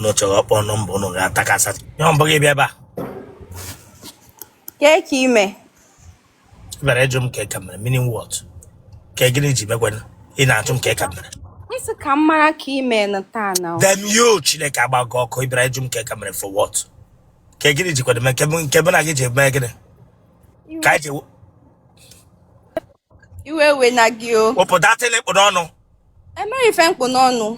unu chọrọ ịkpọ nọmba unu ga-atakasa ihe mbụ gị bịa ebe a Kee ka ị mee. ị bịara ịjụ m kee ka m mere meaning what ka gịnị ji mekwana ị na-ajụ m kee ka m mere Ị sị ka m mara ka ị mee na taa na ọ. damn you chineke agbaa gị ọkụ ị bịara ịjụ m kee ka m mere for what ka gịnị jikwado mee nke mụ nke mụ na gị ji mee gịnị ka anyị ji Iwe we na gị o. wepụ that ihe ị kpụrụ ọnụ enweghị ife m kpụ n'ọnụ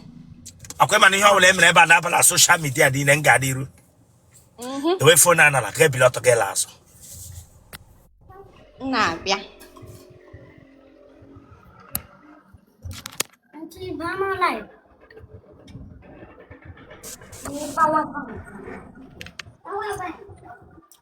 ọkwa ị ma na ihe ọbụla e mere ebe a na-aba na soshal midia niile m gaa n'iru were fon a nala ka ebili ọtọ gị la azụ m na-abịa Auntie, Mama live. Ni power bank. Power bank.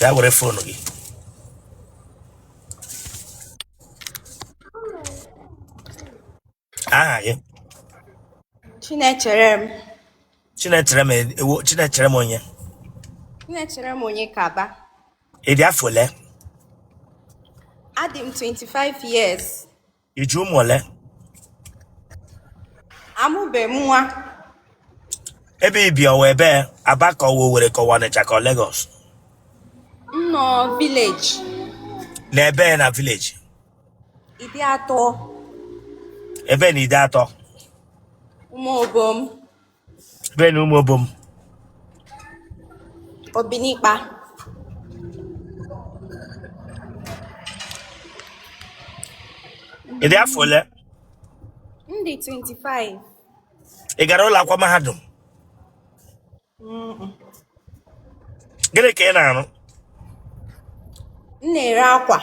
ya were fon gị aha gị Chinecherem Chinecherem ewo Chinecherem onye Chinecherem Onyekaba ị dị afọ ole adị m 25 years I ji ụmụ ole? Amụbe m nwa. Ebe i bi ọ wụ ebee Aba ka ọ wụ Owerri ka ọ wụ Ọnịcha ka ọ Lagos. M nọ vileji. Na ebee na vileji. Ideato. Ebee na Ideato. Ụmụobom. Ebee n'Ụmụobom. Obinikpa. Ị dị afọ ole? M dị 25. Ị gara ụlọ akwụkwọ mahadum? Gịnị ka ị na-arụ? M na-ere akwa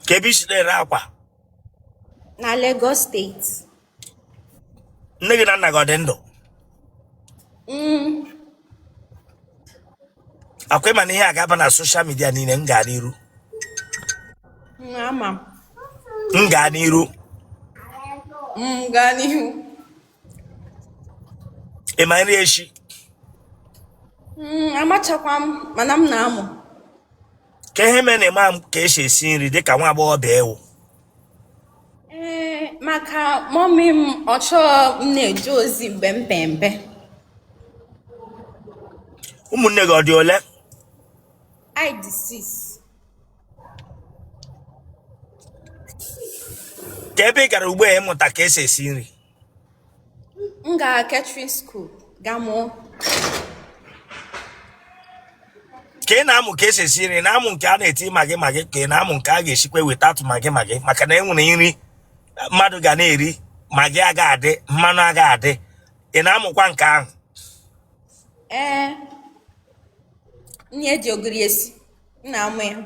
Kee ebe i si na-ere akwa? na Lagos steeti. nne gị na nna gị ọ dị ndụ Mm. ọkwa ị ma na ihe a ga-aba na soshal midia niile m gaa n'iru Mm, ama m. m gaa n'iru Mm, gaa n'ihu ị ma nri eshi Mm, amachakwa m mana m na-amụ kee ihe mere na ị maghị ka esi esi nri dịka nwa agbọghọbịa ị wụ ee eh, maka mọmi m ọ chọọ m na-eje ozi mgbe m pee mpe ụmụnne gị ọ dị ole anyị dị six kee ebe ị gara ugbu a ịmụta ka esi esi nri m gara catering school ga mụọ ka ị na-amụ ka esi esi nri ị na-amụ nke a na-eti magị magị ka ị na-amụ nke a ga-esikwa wetatu magị magị maka na e nwere nri mmadụ ga na-eri magị aga adị mmanụ aga adị ị na-amụkwa nke ahụ ee nri eji ogiri esi m na-amụ ya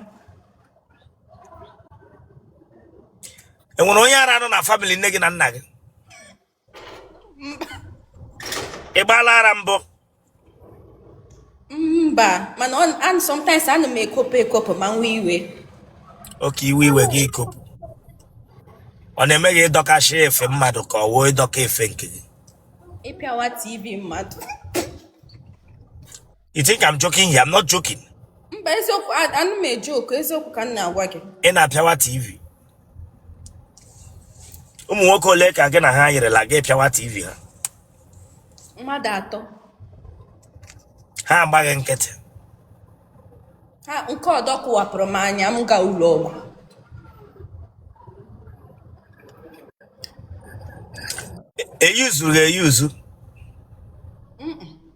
enwere onye ara nọ na family nne gị na nna gị ị gbaala ara mbụ mba mana ọ- an- sometimes ana m ekopụ ekopụ ma m wee iwe oke iwe iwe gị i kopụ ọ na-eme gị ịdọkasị efe mmadụ ka ọ wụ ịdọka efe nke gị ịpịawa tv mmadụ You think I'm joking here? I'm not joking. mba eziokwu a- anaghị m ejoku eziokwu ka m na-agwa gị Ị na-apịawa TV. Ụmụ nwoke ole ka gị na ha yirila gị pịawa TV ha? mmadụ atọ Ha agba gị nkịtị. ha nke ọdọ kụwapụrụ m anya m gaa ụlọ ọgwụ Eyuzu ha eyuzu.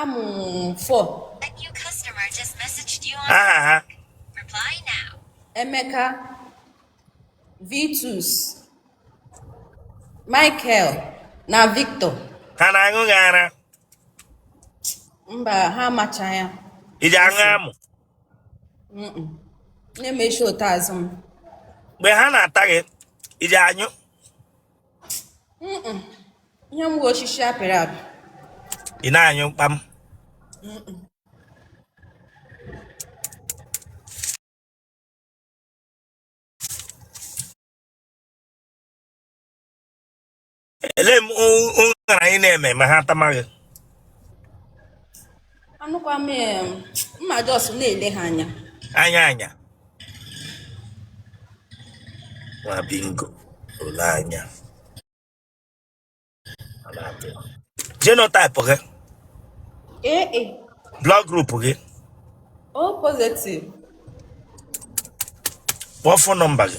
amụ fọ aha ha emeka vitus michael na victor ha na-aṅụ gị ara mba ha amacha ya i ji aṅụ amụ na-emechi ote azụ m mgbe ha na-ata gị i ji anyụ ihe m bụ osisi apịrị apị ị na-anyụ mkpam ele m ụṅara ị na-eme ma ha tama gị anụkwa m em, m ma just na-ele ha anya anya anya nwa bingo ole anya Ọ na-apụ. genotype gị AA blood group gị o positive kpọọ phone number gị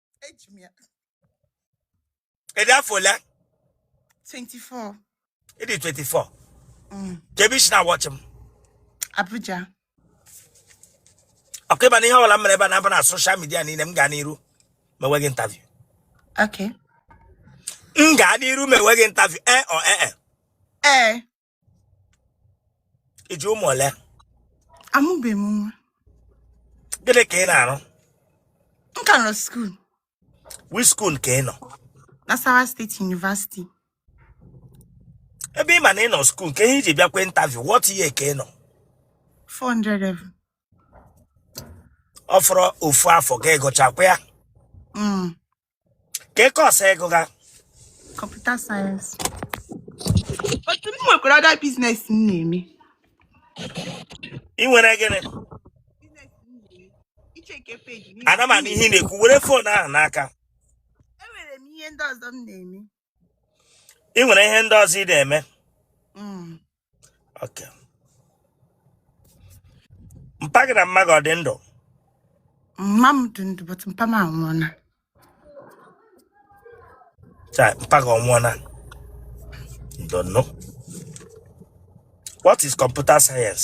eji m ya ị dị afọ ole 24 ị dị 24 mm. kee ebe i si na-awatch m Abuja okay ị ma na ihe ọbụla m mere ebe a na-aba na social media niile m gaa n'iru mewe gị interview okay m gaa n'iru mewe gị interview e or e e ee i ji ụmụ ole amụbeghị m nwa gịnị ka ị na-arụ m ka nọ skuul which skuul ka ị nọ Nasarawa State University ebe ị ma na ị nọ skuul kee ihe i ji bịakwa intaviu what year ka ị nọ 400 level ọ fọrọ ofu afọ ka ị gụchakwa ya Mm. kee course ị gụga kọmputa sayensị but m nwekwara other biznes m na-eme ị nwere gịnị icheke peji ana m anụ ihe ị na-ekwu were fon ahụ n'aka enwere m ihe ndị ọzọ m na-eme ị nwere ihe ndị ọzọ ị na-eme mm. mpa gị na mma gị ọ dị ndụ mma m dị ndụ but mpa m anwụọla mpa gị anwụọla don't know what is computer science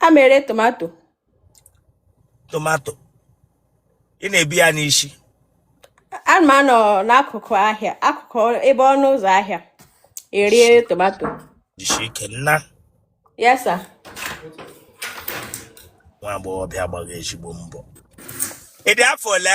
ana m ere tomato tomato ị na-ebu ya n'isi ana m anọ n'akụkụ ahịa akụkụ ebe ọnụ ụzọ ahịa ere tomato jisi ike nne yes sir nwa agbọghọbịa agbaghị ezigbo mbọ ị dị afọ ole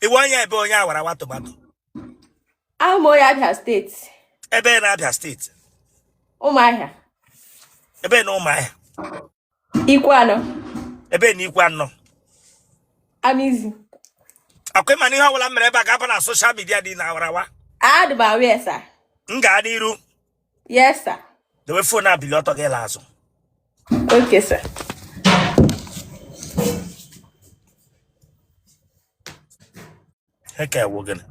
ị wụ onye ebee onye awarawa tomato awụ m onye Abịa steeti ebee na Abịa steeti Ụmụahịa ebee na Ụmụahịa Ikwuano ebee na Ikwuano Amizi ọkwa ị ma na ihe ọbụla mere ebe a ga-aba na soshal midia dị na awarawa adị m aware sa m gaa n'iru Yes, sir. Dewe fon a bili ọtọ gị laa azụ. Okay, sir. Nke a wụ gịnị?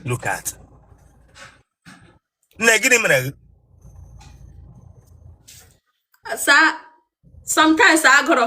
Look at. Nne gịnị mere gị? Sa, sometimes agụrụ.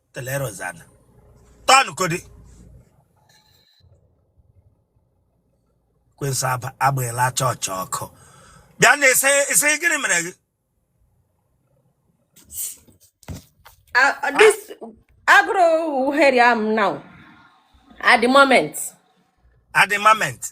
telerozana tọnụ kodi kwesị agbaela chọọchị ọkụ bịa na ese ese gịnị mere gị Uh, uh, this agụrụ here I am now. At the moment. at the moment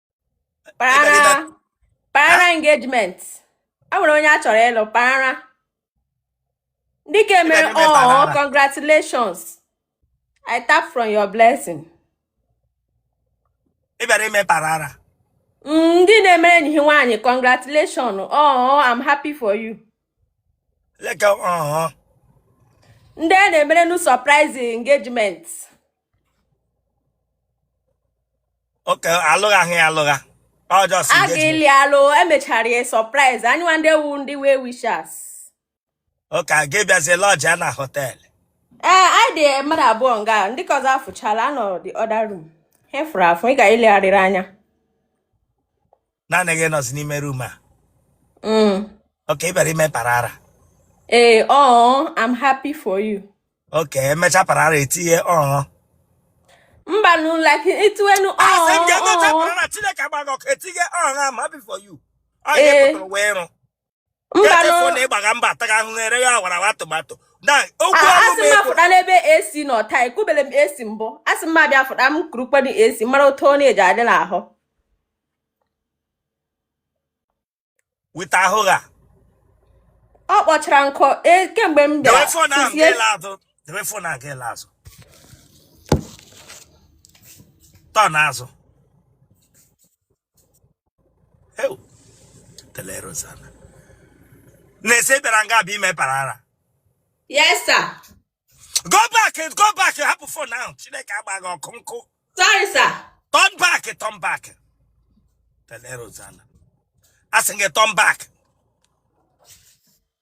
Para. Parara engagement. A nwere onye a chọrọ ịlụ parara. Dị ka e mere Ebe- ebe oh para. congratulations. I tap from your blessing. ị bịara ime parara Mm, Ndị na-emere enyi ha nwaanyị congratulations. Oh, I'm happy for you. leka ọhụ Ndị a na-emere nu surprise engagement. okay alụghị ahụ ya alụgha ọ just a engagement ga-eli alụ emechara ya surprise anyịnwa ndị a wụ ndị well wishers okay a ga-abịazi lodge ya na hotel ee anyị dị mmadụ abụọ nga ndị ka ọzọ afụchala ha nọ the other room ha fụrụ afụ ịga ilegharị anya naanị gị nọzi n'ime room a mm. okay ị bịara ime parara ee eh, ọ oh, I'm happy for you okay e mechaa parara etinye ọọ oh. mba nu like itiwenu ọọ asị m ga-emecha parara Chineke agba gị ọkụ etinye ọọ ma before you ọ ga-epụtara wee rụ mba chefuo na ịgbaga mba ataghị ahụhụ ere ya awara awa tomato na okwu ah, ọrụ m asị m afụta n'ebe esi na ọta ekwubele m esi mbụ asị m abịa afụta m kurukwanụ esi mara otu ọ na-eji adị n'ahụ wita ahụ ha ọ kpọchara nkụ e, kemgbe m bịara debe phone ahụ ga-ele azụ turn azụ telerozana na-ese bịara nga bụ ime parara yes sir go back go back hapụ phone ahụ Chineke agba gị ọkụ nkụ sorry sir turn back turn back telerozana asị gị turn back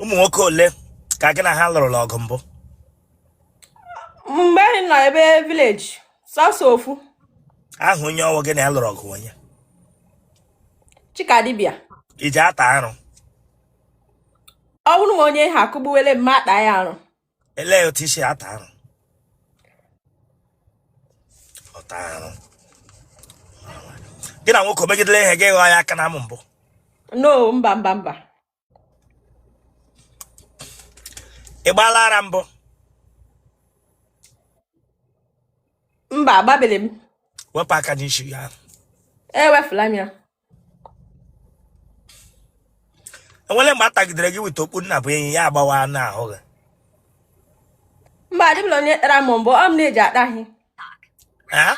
ụmụ nwoke ole ka gị na ha lụrụla ọgụ mbụ mgbe anyị nọ ebe village sọsọ ofu ahụ onye ọ wụ gị na ya lụrụ ọgụ onye Chikadibia i ji ata arụ ọ wụrụ ma onye ha akụgbuwele m m ata ya arụ elee otu i si ata arụ ọta arụ gị na nwoke megidele ihe gị ghọọ ya aka n'amụ mbụ no mba mba mba ị gbaala ara mbụ mba agbabele m wepụ aka n'isi ya ewefula m ya enwere mgbe a tagidere gị weta okpu nna bụ enyi ya agbawa n'ahụ gị mba adịbụla onye tara m mbụ ọ m na-eji ata ha Eh?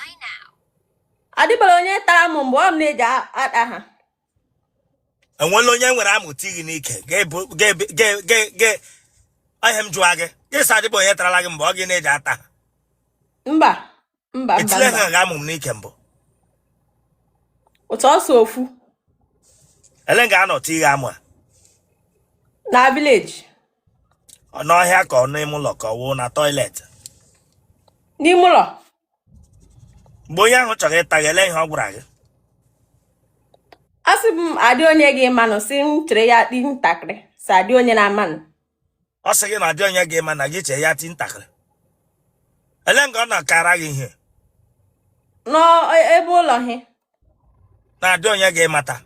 adịbụla onye tara m mbụ ọ m na-eji a- ata ha enwere onye nwere amụ tie gị n'ike ga-ebu- ga-ebe- ga- ga- ga- ọ ihe m jụwa gị gị sị adịbụ onye tarala gị mgbe ọ gị na-eji ata ha mba mba mba etiele ha gị amụ n'ike mbụ ọ sọsọ ofu elee nga a nọ tie gị amụ a na village ọ n'ọhịa ka ọ n'ime ụlọ ka ọ wụ na toilet n'ime ụlọ mgbe onye ahụ chọrọ ịta gị ele ihe ọ gwara gị ọ sị m adị onye ga-amanụ sị m chere ya dị ntakịrị sị adị onye na-amanụ ọ sị gị na adị onye ga-ama na gị chee ya ti ntakịrị ele nga ọ na-akara gị ihe n'ebe ụlọ ha na adị onye ga-amata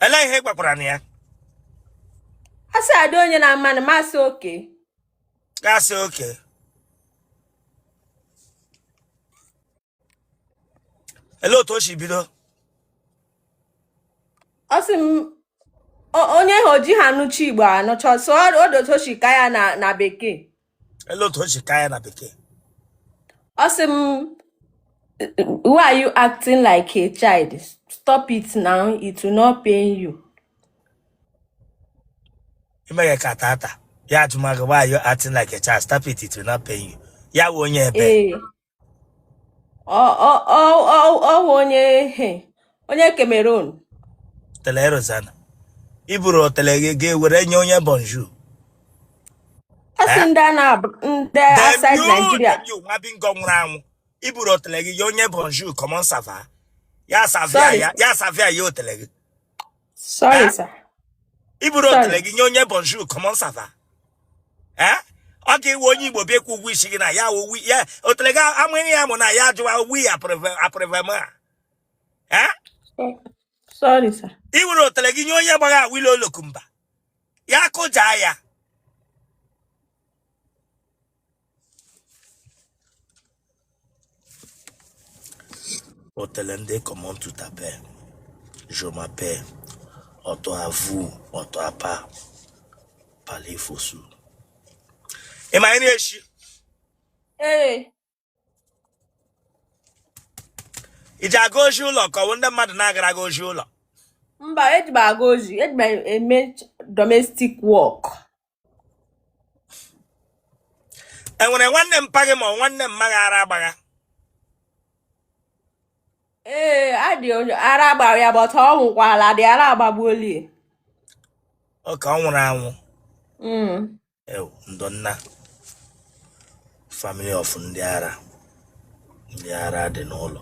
ele ihe ị gwakwara na ya a sị adị onye na-amanị m asị okay gị asị okay ele otu o si bido ọ sị m o- onye ha oji ha anụcha igbo anụcha so odotochi ka ya na na bekee ele otu o si ka ya na bekee ọ sị m why are you acting like a child stop it now it will not pain you i meghe ka tata ya atụmagụ why you acting like a child stop it it will not pain you ya wụ onye ebee ọ wụ onye onye Cameroon otele Rosanna i buru otele gị ga were nye onye bonjour asị eh? ndị a na-abụ ndị outside Nigeria nwa bingo nwụrụ anwụ i buru otele gị nye onye bonjour comment ça va ya savia ya savia ya otele gị Sorry, Eh? sir. i buru otele gị nye onye bonjour comment ça va ee ọ ga-awụ onye igbo bịa ịkwụ ụgwọ isi gị na ya wụ wi- ya otele gị amụghị ya mụ na ya ajụwa wi aprevema ee Sorry, sir. i were otele gị nye onye gbagha Awilo Longomba ya kụjaa ya otele ndị comment tu t'appelles. Je m'appelle. Auto à vous, auto à pas. Parlez-vous. Am I any issue? Hey. i ji aga ozi ụlọ ka ọ wụ ndị mmadụ na-agara gị ozi ụlọ mba eji m aga ozi eji m eme domestic work e nwere nwanne mpa gị ma ọ wụ nwanne mma gị ara agbagha ee adị onye ara agbara ya but ọ nwụkwala dị ara agbagbuoli okay ọ nwụrụ anwụ mm. ewu ndonna family of ndị ara ndị ara dị n'ụlọ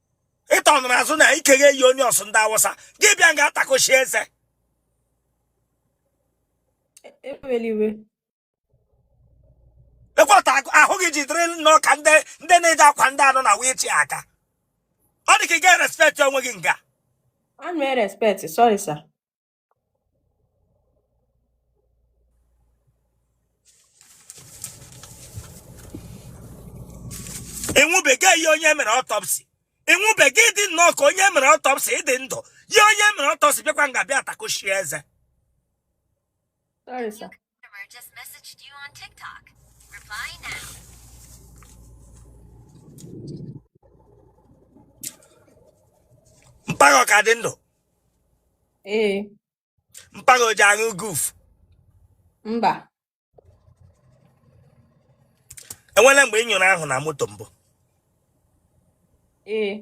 ịtọ nụrụ azụ na ikeghe eyi onye ọsụ ndị awụsa gị bịa nga atakọchi eze ekweta ahụ gị jidere nnọọ ka ndị na-eji akwa ndị anọ na wichi aka ọ dị ka ị ga-erespect onwe gị nga I'm very respect. Sorry, sir. ị nwụbeghị yie onye mere ọtọpsi ị nwụbeghị ị dị nnọọ ka onye mere ọtọpsi ị dị ndụ yie onye mere ọtọpsi bịakwa nga bịa atakochie eze Customer just messaged you on TikTok. Reply now. mpa gị ọ ka dị ndụ Ee, mpa gị o ji aṅụ guf mba. enwela mgbe ị nyụrụ ahụ na moto mbụ Ee,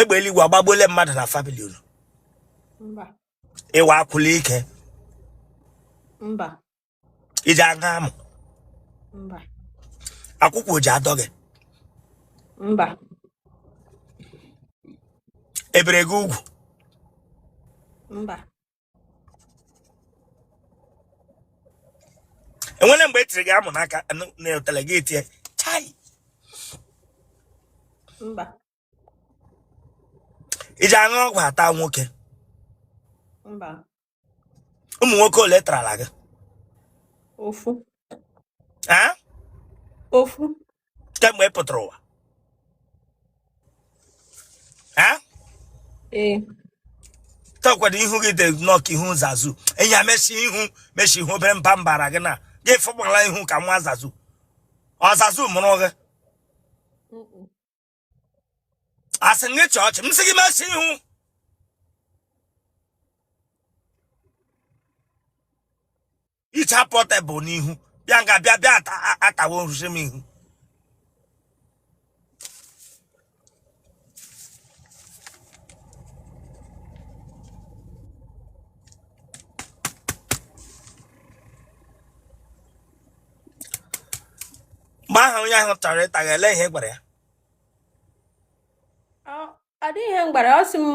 egbe eluigwe agbagbuole mmadụ na famili unu ị wụ akwụla ike mba i ji aga amụ akwụkwọ o ji adọ gị mba e bere gị ugwu enwele mgbe e tiri gị amụ n'aka n'otele gị etie chai mba i ji aṅụ ọgwụ ata nwoke mba ụmụ nwoke ole tarala gị ofu ofu kemgbe ị pụtara ụwa Eh? ee takwado ihu gị dị nnọọ ka ihu zazu enyi ya mesi ihu mesi ihu obere mba m bara gị na gị afụbala ihu ka nwa zazu ọ zazu mụrụ gị Mm-mm. asị gị chịa ọchị m sị gị mesi ihu iche pọtebụl n'ihu bịa nga bịa bịa atawo nrụzi m ihu mgbe ahụ onye ahụ chọrọ ịta gị ele ihe ị gwara ya Ọ- ọ dịghị ihe m gwara ya, ọ sị m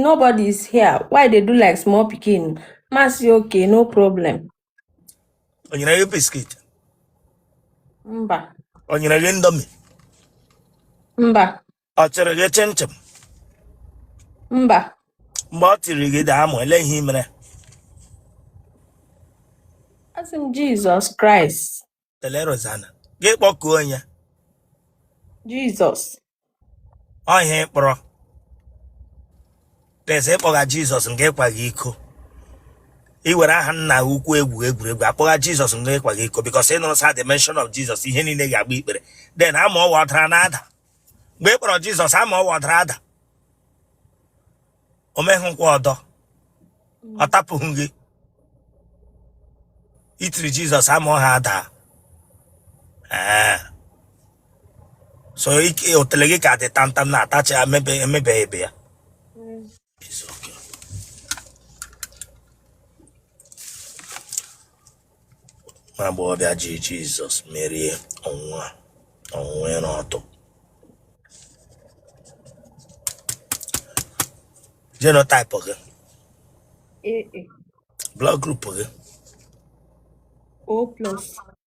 nobody is here why they do like small pikin m asị okay no problem o nyere gị biskit mba o nyere gị indomie mba ọ chịrị gị chinchin mba mgbe ọ tiri gị de amụ ele ihe i mere asị m jizọs kraịst ele rozana gị kpọkuo onye jizọs ọ ihe ị kpọrọ pese ị kpọgha jizọs nga ị kwagha iko i were aha nna gị ukwu egwu egwuregwu akpọgha jizọs nga ị kwagha iko bikos ị nụrụ sị at the mention of jizọs ihe niile ga-agba ikpere den amụ ọwa ọ dara na ada mgbe ị kpọrọ jizọs ama ọwa ọdara ada o meghịkwa ọdọ ọ tapụghị gị i tiri jizọs ama ọha ada ee so ike otele gị ka dị tamtam na-atacha emebe emebeghị ebe ya nwa agbọghọbịa ji jizọs merie ọnwụnwa ọnwụnwa ịra ọtụ genotype gị AA blood group gị O plus.